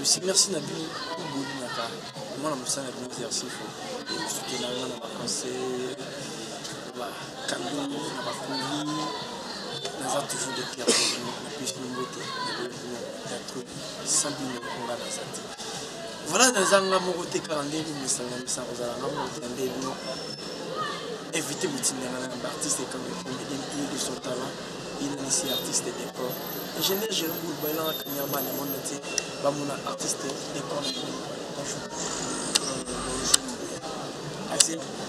Merci, merci na bino bolingaka mwana mosala na bino exercice ekosukela nga na baconse bakando na bakoli naza toujours de pierre na pesi na mbote na boyokuna ya trop sans bino nga naza te voilà naza nga moko te kaka nde komisanga misanga kozala nga moko te nde bino évite botindanga na baartiste kaka ekomi impie de son talent inanisi artiste de corps et je n'ai jamais voulu balanga kanyama na monde entier bamona artiste de corps na bonjour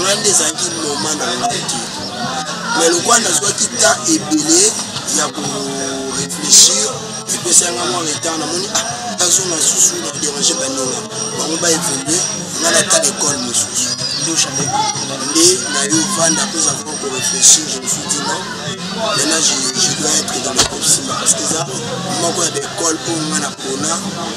nga nde ezalaki moma na nga te mais lokola nazwaki temps ebele ya koreflechir epesaki nga mwa retard namoni ah nazonga susu na dérange baninga bango ba évolue nga nata l'école mosusu nde nayo vanda mpe eza vraimen koreflechir je me suis dit non maintenant je, je dois être dans le groupe simba parce que eza moko ya baekole oyo nga napona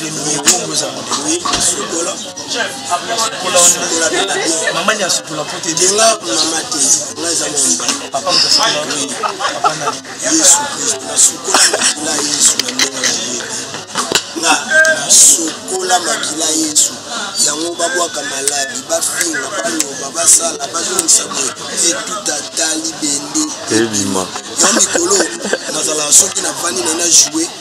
Remy kombo eza modele sokola mama ni asokola mpo te de nga mama te nga eza mwamba papa moto asokola oui papa na yesu kristo nasokola makila yesu na ndenge na ye nga nasokola makila yesu yango babwaka maladi bafinga baloba basala bazongisa boye etutata libende ebima ya mikolo nazalaka soki navandi na na joue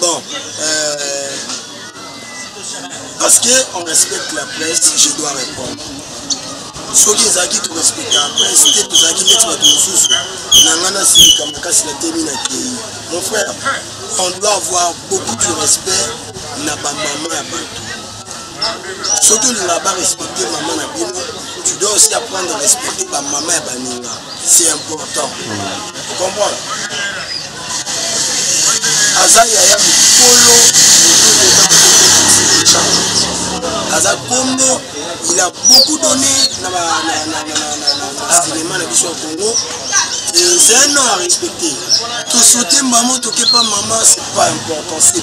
Bon, euh, parce qu'on respecte la presse, je dois répondre. soki ezalaki torespecte la presse te tozalaki neti bato mosusu na ngai nasilika makasi na temi na kei mon frère on doit avoir beaucoup du respect na bamama ya bato soki olingaka ba respecter mama na bino tu dois aussi apprendre à respecter ba mama ya baninga c'est important mm. comprendre aza yaya mikolo aza kombo il a beaucoup donné na cinéma na biso ya congo c'est un nom à respecter tosote mbamo tokepa mama c'est pas important c'est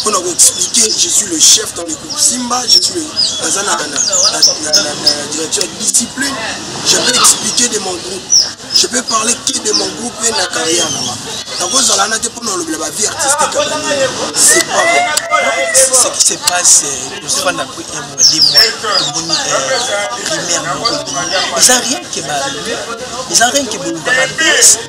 mpo na koexplike je suis le chef dans le groupe simba je suis naza na direction ya discipline je peux expliquer de mon groupe je peux parler que de mon groupe mpe na carrière nanga nakozala na te mpo na olobela bavie artistique c'est pas ce qui se passe tosfanda mpo un mois deux mois tomoni primaire moko eza rien ke ba eza rien ke bolobaka bese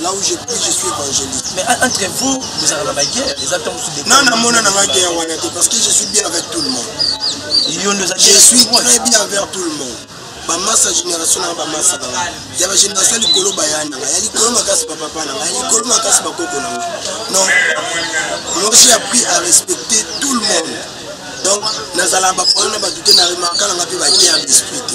Là où je prie, je suis évangéliste. Mais entre vous, vous avez la guerre. Les attentes sont des. Non, non, mon nom la guerre, parce que je suis bien avec tout le monde. Je suis très bien avec tout le monde. bamasa génération nanga bamasa nanga ya bagénération likolo baya nanga ya likolo makasi bapapa nanga ya likolo makasi bakoko nanga non moi j'ai appris à respecter tout le monde donc nazalaka baproblème na bato te na remarka nanga mpe baguerre d'esprit te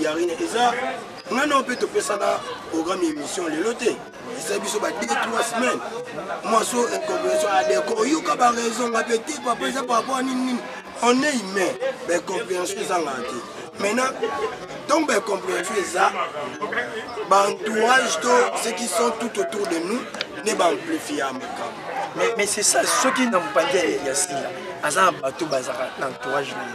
ya rien eza nga nao mpe topesaka programme ya émission lelo te eza biso ba 2 3 semaine mwaso incomprehension adeko oyoka baraison nga mpe te papa eza par rapport a nini nini on est humain baincomprehension ezangaka te maintenant donc baincomprehension eza baentourage to ce qui sont tout autour de nous nde baamplifie ya makambo mais c'est ça soki na mopanzi ya sila aza na bato bazalaka na entourage na ye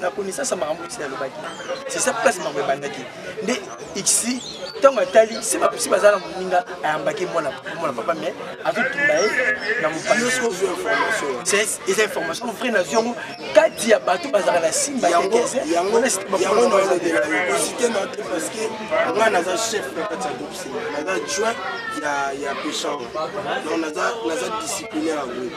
na connaissance ya makambo esi nalobaki c'est ça place makambo ebandaki nde ixi ntango atali se bapusi baza na moninga ayambaki mwana papa mais azotunda ye na mopaneza information vrai nazwi yango kati ya bato bazalaka na simba nga naza chef na kati ya groupe sima naza joint ya pechar donc naza disciplinaire ya groupe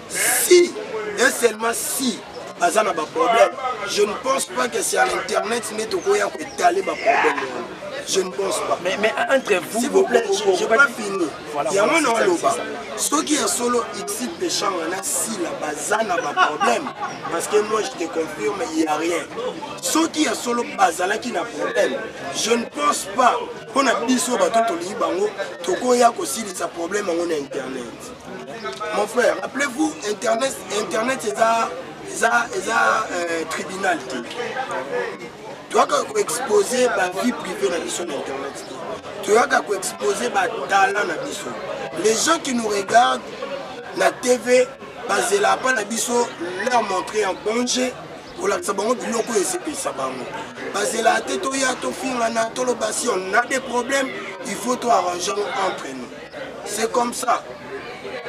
si et seulement si baza na baproblème je ne pense pas que c'est à l'internet nde tokoya koetale baproblème wana je ne pense pas mais, mais entre vous si vous plaît je pas fini yango na oloba soki ya solo ixi péchant wana sila baza na baproblème parce que moi je te confirme il y a rien soki ya solo bazalaki na problème je ne pense pas mpo na biso bato tolingi bango tokoya kosilisa problème yango na internet Mon frère, rappelez-vous, Internet, Internet est un, est un, est un euh, tribunal. Tu as qu'à exposer ma vie privée dans sur Internet. Tu as qu'à exposer ma talent dans biso. Les gens qui nous regardent, la TV, basé là pas la biso, leur montrer en danger. kolakisa bango biloko oyo esepelisa bango bazela te toya tofingana toloba si on a des problèmes il faut toarrangeango entre nous c'est comme ça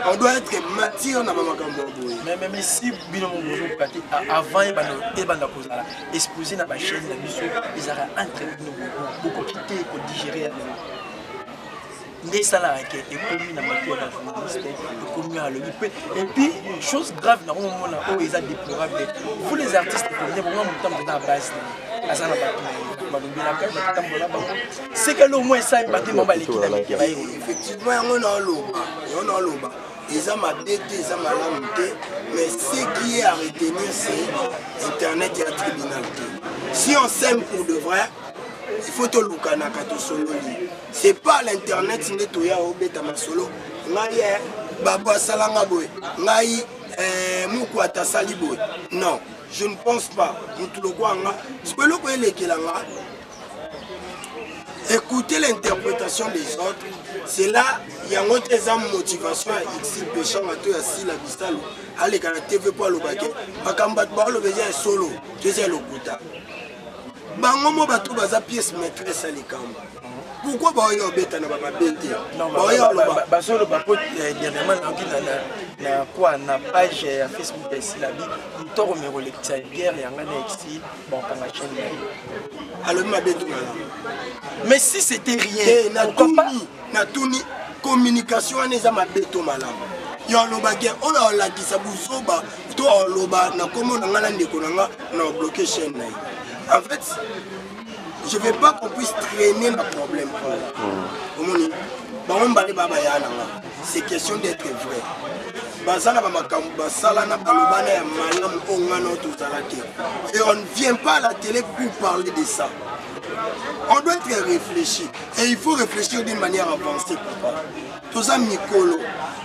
on doit être mature na bamakambo ya boye mais si bino mozokoka te avant ebanda kozala exposé na bachaine na biso ezalaka entre bino bokoki te kodigere ya lelo nde esalaka ke ekomi na matu ya bajournaliste ekomi alobi mpe epuis chose grave na komomona oyo eza déplorable vous les artistes combien bongo motambo eza base aza na bato na ye balobelaka batambola bango seke lo mwa esali batema baleki na mike baye effectivement yango naoloba yango naoloba eza mabe te eza malamu te mais ce qui est à retenir c'est internet ya tribunal te si on s'aime pour de vrai il faut tolukanaka tosololi c'est pas l'internet nde toya obeta masolo ngai eh, babo asalanga boye ngai eh, mokwata asali boye non je ne pense pas mutu lokwa nga siko eloko elekela nga écouter l'interprétation des autres cela yango te eza motivation ya exil peshanga to ya sila bisalu aleka na tv mpo alobake makambo bato baoloba eza ya solo to eza ya lokuta bango mo bato baza pièce maîtresse ya likambo pourkoi baoyo obeta na bamabe te baoyo aloba bazoloba mpo dernièrement nayoki na kwa na page ya facebook ya esilabi ntoko mikolekisa biere yanga na exi bankanga chaine na ye alobi mabe te malamu mais si c'était rien eh, natuni communication wana eza mabe to malamu yo alobaki oyo alakisa buzoba to aloba na nkombo na ngai na ndeko na ngai na obloke chaine na ye en fait je veux pas qu'on puisse traîner ma problème hmm. omoni bango mibale baa baya na nga c'est question d'être vrai baza na bamakambo basala na balobana ya malamu oyo nga nao tozala te et on ne vient pas à la télé pour parler de ça on doit être réfléchi et il faut réfléchir d'une manière avancée papa toza mikolo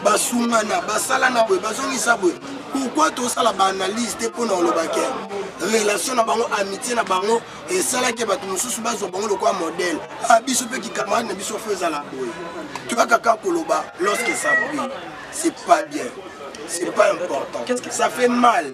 basungana basala na boye bazongisa boye pourkui tosala baanalyse te mpo na olobake relation na bango amitie na bango esalaki bato mosusu bazwa bango lokola modele a ah, biso mpe kikamarade na biso fo ezala boye toyaka kaka koloba lorsque ça brille c'est pas bien c'est pas important ça fait mal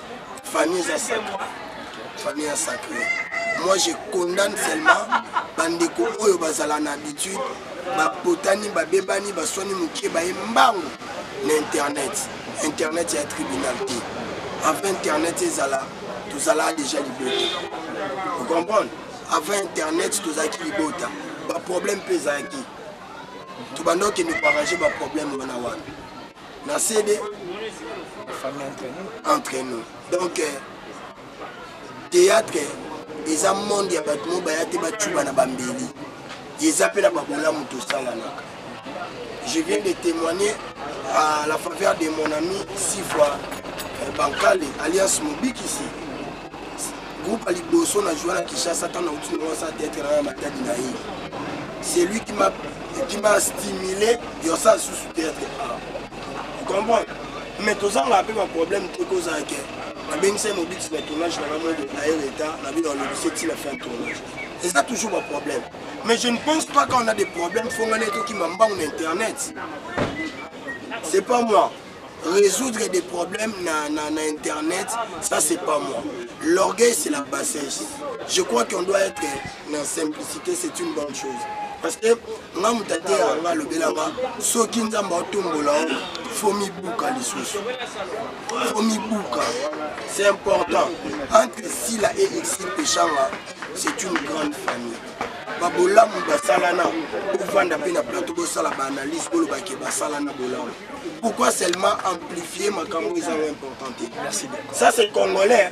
famille eza sacré famille ya sacré moi je condamne seulement bandeko oyo bazala na habitude bapotani babebani baswani mokie baye mbango na internet internet ya tribunal te avant internet ezala tozalaka déjà libota ocomprendre avant internet tozalaki libota baproblème mpe ezalaki tobanda okende koarrange baproblème wana wana na cd entre nous donc euh, théâtre eza monde ya bato mo baya te bacuba na bambeli eza mpe na babolamu tosalanaka je viens de témoigner à la faveur de mon ami six fois euh, bankale alliance mobikisi groupe ya liboso na joua na kinshasa ntango nauti naosa teatre na ya matadi na ye c'est lui qui m'a stimulé yosa susu theatre a comprendre mais tozanga mpe baproblème te kozala ke nabengisai mobikisi na tournage na ngamoi aye reta na bino alobisi ti na fin ya tournage eza toujours baproblème mais je ne pense pas quand on a des problèmes fongana etokima mbangu na internet c'est pas moi résoudre des problèmes na, na, na internet ça c'est pas moi l'orgueil c'est la bassesse je crois qu'on doit être na simplicité c'est une bonne chose parce que nga moto ateya nga alobelaka soki nzambe aotombola o fo mibuka lisusu fo mibuka c'est important entre sila et exil peshanga c'est une grande famille babolamu basalana bovanda mpe na plateau bosala baanalyse bolobake basalana bolamu pourquoi seulement amplifie makambo ezango important te ça c'est congolais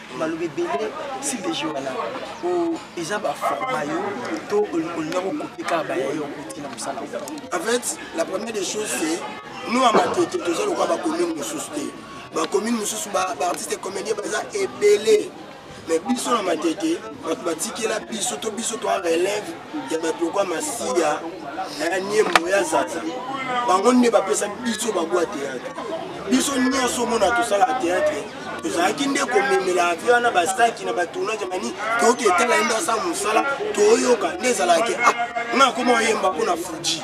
maloba ebele style de jeu wana eza baforma yo to olinga kokope kaka baya yo okoti na mosala en fait la première des choses c'est nous ya matete toza lokola bacommune mosusu te bacommune mosusu baartiste comédien baza ebele mais biso na matete bato batikela biso to biso toa relève ya bato lokwa masiya na ya niembo ya zaza bango nde bapesa biso babwa teatre biso nyonso omona tosalaka teatre tozalaki nde komemela avi wana basaki na batournage mani toyoki etala ye nde asala mosala toyoka nde ezalaki ah nga akoma oyemba mpo na fuji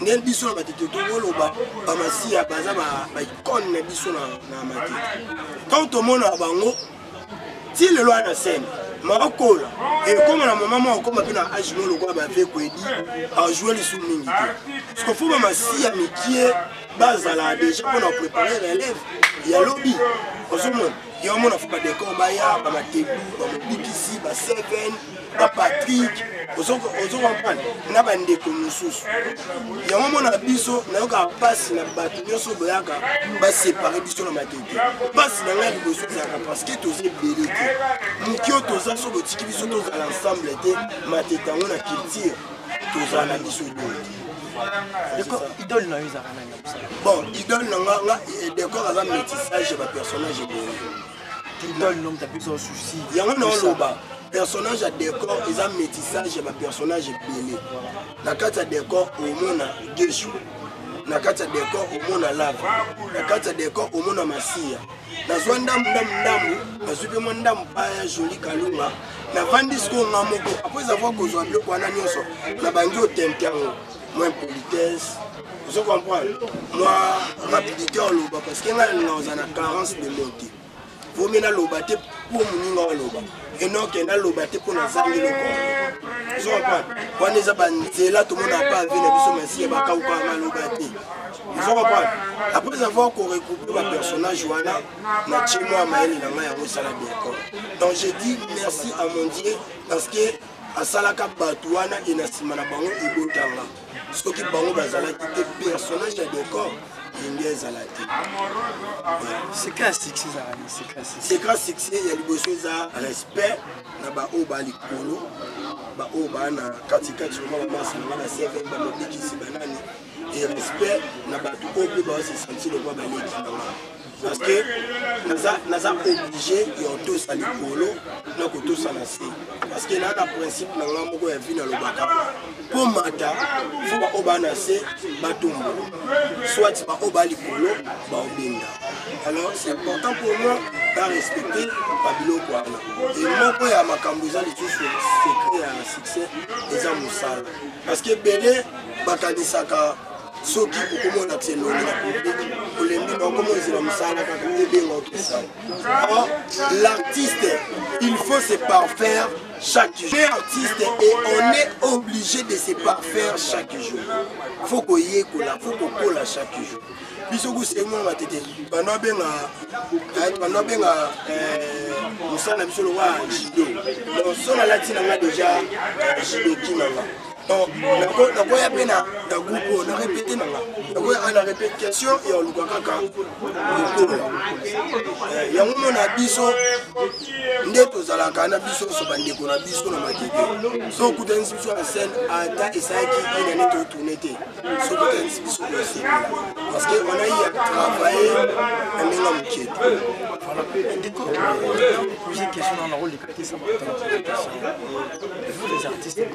ndenge biso na matete tokoloba bamasiya baza baikone na biso na matete ntango tomonaka bango ti lelo wana na sene makola ekoma na mama moko akoma mpe na age mo lokola bave kwedi ajoue lisu mingi te parceke fo bamasiya mikie bazala deja mpo na prépare relève ya lobi ozomona yo amona fo badekor baya bamatebu bamobikisi ba 7 na patrik ozokompane na bandeko mosusu yango omonaka biso nayokaka mpasi na bato nyonso boyaka basepare biso na matete mpasi na ngai liboso ezalaka parceke toza ebele te moki oyo toza so botiki biso tozala ensemble te matete yango na culture tozala na biso doki idole na yo ezalaka nani bon idole na nga nga eh, decor aza métissage ya bapersonnage ebele yango naoloba personnage ya décor eza métissage ya bapersonnage ebele na kati ya décor omona gesho na kati ya décor omona lava na kati ya décor omona masiya nazwa ndambu ndambu ndambu nazwi mpe mwa ndambu pa ya joli kalunga navandi sikoyo nga moko apres avoir kozwa biloko wana nyonso nabangi otente yango mwa impolitesse ozo comprendre mwa rapidité oloba parce que ngai nalinga oza na carence de mot te vomi naloba te mpo moninga oloba enoke naloba te mpo nazangi loko ozo comprendre wana eza banzela tomona pa vie na biso masiya bakauka maloba te ozo comprendre après avoir korecoupe bapersonnage wana na tie mwa mayele na ngai yango esala bienco donc je dis merci à mon dieu parce que asalaka bato wana e na nsima na bango ebotanga soki bango bazalaki te personnage ya decor elingi ezala te secret succès ya liboso eza respect na baoyo ba likolo baoyo baa na katikati oma bamasi na bana cvm bamabikisi banani e respect na bato oyo mpe baosesanti lokwa baleki na bango parce que naza naza obligé ya kotosa likolo na kotosa na se parce que naa na principe na ngai moko ya vi nalobaka mpo mata fo baoyo baa na se batombola soit baoyo baa likolo baobenda alors c'est important pour moi barespecte babiloko wana e moko ya makambo eza lisusu secret ya succès eza mosala parce que ebele bakanisaka soki okomona ti elongi na publiki olembi na okomonzela mosala kaka ebenga okesala or l'artiste il faut se parfaire chaque jour artiste et on est obligé de se parfaire chaque jour faut koyekola faut kokola chaque jour biso kusengola matete banda obenga eh, banda obenga eh, mosala na biso lokola jido donc so nalati na nga deja eh, jido kinanga nakoya mpe na groupe oyo na repete nanga nakoya kaka na repete question ya oluka kaka lokola eh, yango mona biso nde tozalaka na biso nyonso bandeko na biso na makeke so okutanisi biso na scène ata esalaki inane totourne te so okutanisi biso koesila parce que on a eu à travailler na ndenge ya moke ndeko poser question na nakoleka te sa vous les artistes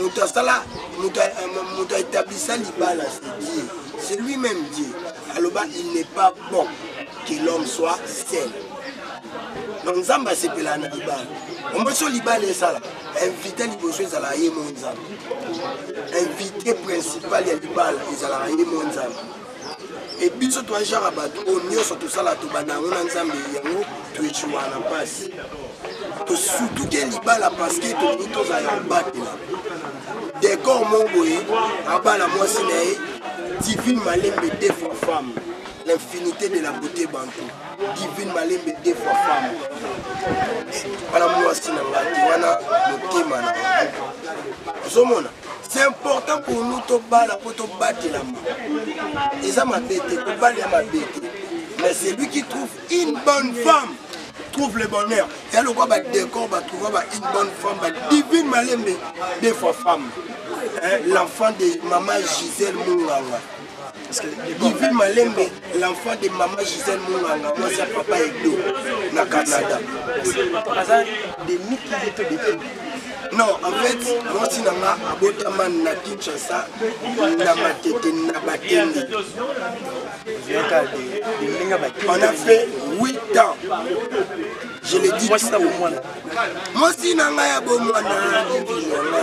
moto asala moto euh, aetablisa libala dieu c'est lui même dieu aloba il n'est pas bon que l'homme soit seul donc nzambe asepelaka na libala omoso libala esala invité liboso ezalaka ye mo nzambe invité principal ya libala ezalaka ye mo nzambe e biso toajaka bato oyo nyonso tosala tobanda yango na nzambe yango toecuwa na mpasi tosutuke libala parceke tolingi tozala ya kobatela dekor moko boye abala mwasi na ye divine malembe defa femme l'infinité de la beauté bantou divine malembe defa femme wana mwasi na ngai te wana motema na ozomona c'est important pour nous tobala mpo tobatelama eza mabe te kobala ya mabe te mais celui qui trouve une bonne femme trouve le bonheur ya lokwa badécor batrouva ba une bonne femme badivine malembe de fois femme l'enfant de mama gisele munganga Divine Malembe, l'enfant de maman Gisèle Munganga, moi c'est papa Edo, na Canada. Aza de Mickey Leto de King. Non, en fait, moi aussi nanga abotama na Kinshasa, na Matete, na Bakende. On a fait 8 ans. Je l'ai dit. Moi aussi nanga ya bomwana, divine nanga.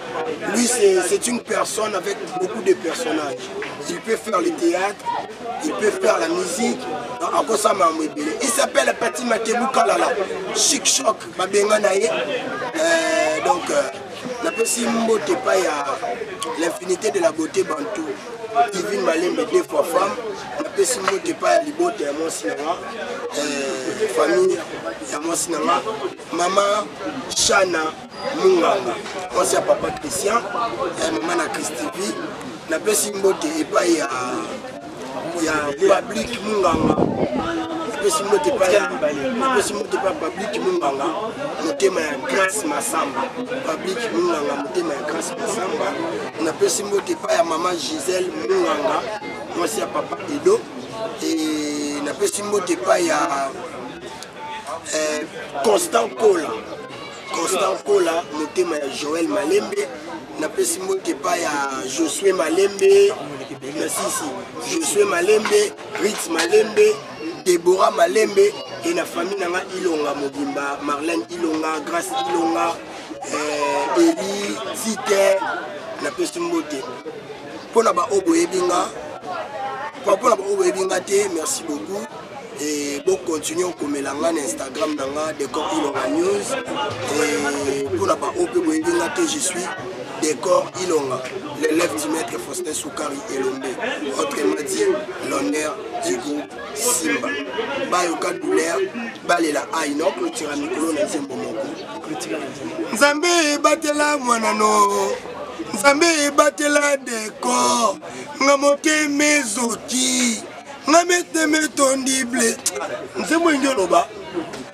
Oui, c'est une personne avec beaucoup de personnages. Il peut faire le théâtre, il peut faire la musique. Il s'appelle Pati Makebu Kalala, Chic Choc, Babenga Naye. Euh, donc, euh, napesi mbote pa ya l'infinité de la beauté bantou divine malembe deux fois femme napesi mbote pa ya libota ya mwasi na nga euh, famille ya mwasi na nga mama shana munganga mwasi ya papa christian ya mama na christivi napesi mbote epai ya ya public munganga napesi mbote epai ya napesi mbote epai ya public munganga motema ya grace masamba public munganga motema ya grace masamba napesi mbote epai ya mama gisele munganga mwasi ya papa edo e napesi mbote epai ya eh, constant kola Constant Kola, motema ya Joël Malembe, napesi mbote epai ya Josue Malembe, nasisi Josue Malembe, Ritz Malembe, Deborah Malembe et na famille nanga Ilonga mobimba, Marlène Ilonga, Grace Ilonga, euh, Eli, Tite, napesi mbote. Mpo na baoyo boyebi nga, mpo na baoyo boyebi nga te, merci beaucoup. et bo continuer okomela nga na instagram na nga decor ilonga news et mpo na baoyo mpe boyebi nga te je suis decor ilonga l'élève du maître faustin soukari elombe autrement dit l'honneur du groupe simba bayoka douleur balela ai no clotira mikolo na nzembo moko nzambe ebatela mwana no nzambe ebatela decor nga motema ezoki nga meteme etondi ble nzembo elingi oloba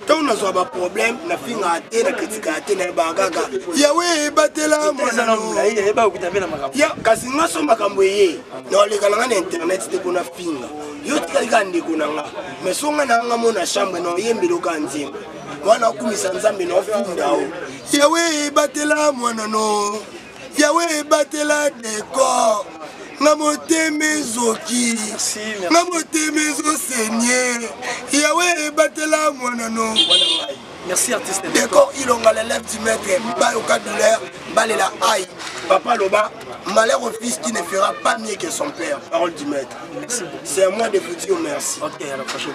ntango nazwa baproblème nafingaka te na kritikaka te nayebaka kaka yawe ebatela mwanakasi nga so makambo eye naolekana nga na internet te kona finga yo tikali kaka ndeko na nga mai so nga na nga mona chambre na oyembeli oka nzembo wana okumisa nzambe na ofunda o yawe ebatela mwana no yawe ebatela decor na motema ezoki na motema ezosenye yawe ebatela mwana no Merci artiste. Décor Ilonga l'élève du maître Bayoka douleur Balela Aïe. Papa Loba, malheur au fils qui ne fera pas mieux que son père. Parole du maître. C'est à moi de vous dire merci. Ok, à la prochaine.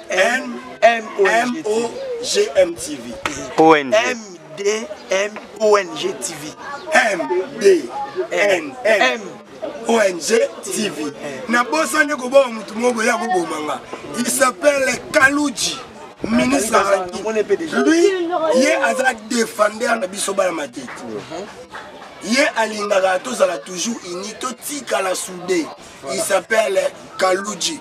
MDMONG TV. ONG. MDMONG TV. MDNM. ONG TV. nabosani koboma motu moko boya koboma nga il s'appelle kaluji ministre azalaki lui ye aza defender na biso bana matete ye alingaka tozala toujours uni totikala soude il s'appelle kaluji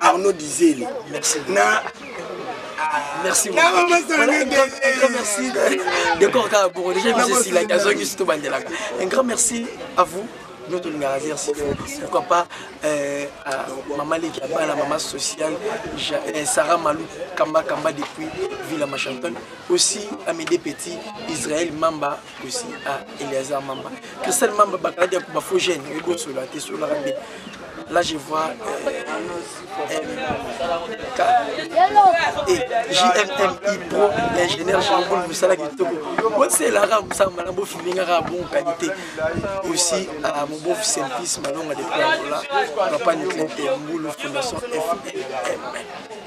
Arnaud Dizeli merci na merci merci décor kaka boko déjà biso esilaki azongi surtout bandelaka un grand merci à vous nous tolingaka zere sifo pourquoi pas euh, mama leki ya bana mama sociale euh, sarah malou kamba kamba depuis villa machanton aussi amede petit israel mamba Kosi a ah, Eleazar Mamba. Christelle Mamba bakalaki ya kuba faux jeune oyebi osola te solaka nde. Là je vois euh, MK et JMMI Pro l'ingénieur Jean-Paul Moussala Kitoko. Moi c'est là comme ça malam bo filming à bonne qualité. Aussi à mon beau service malonga de Angola, papa Niclin Temboulou Fondation FMM.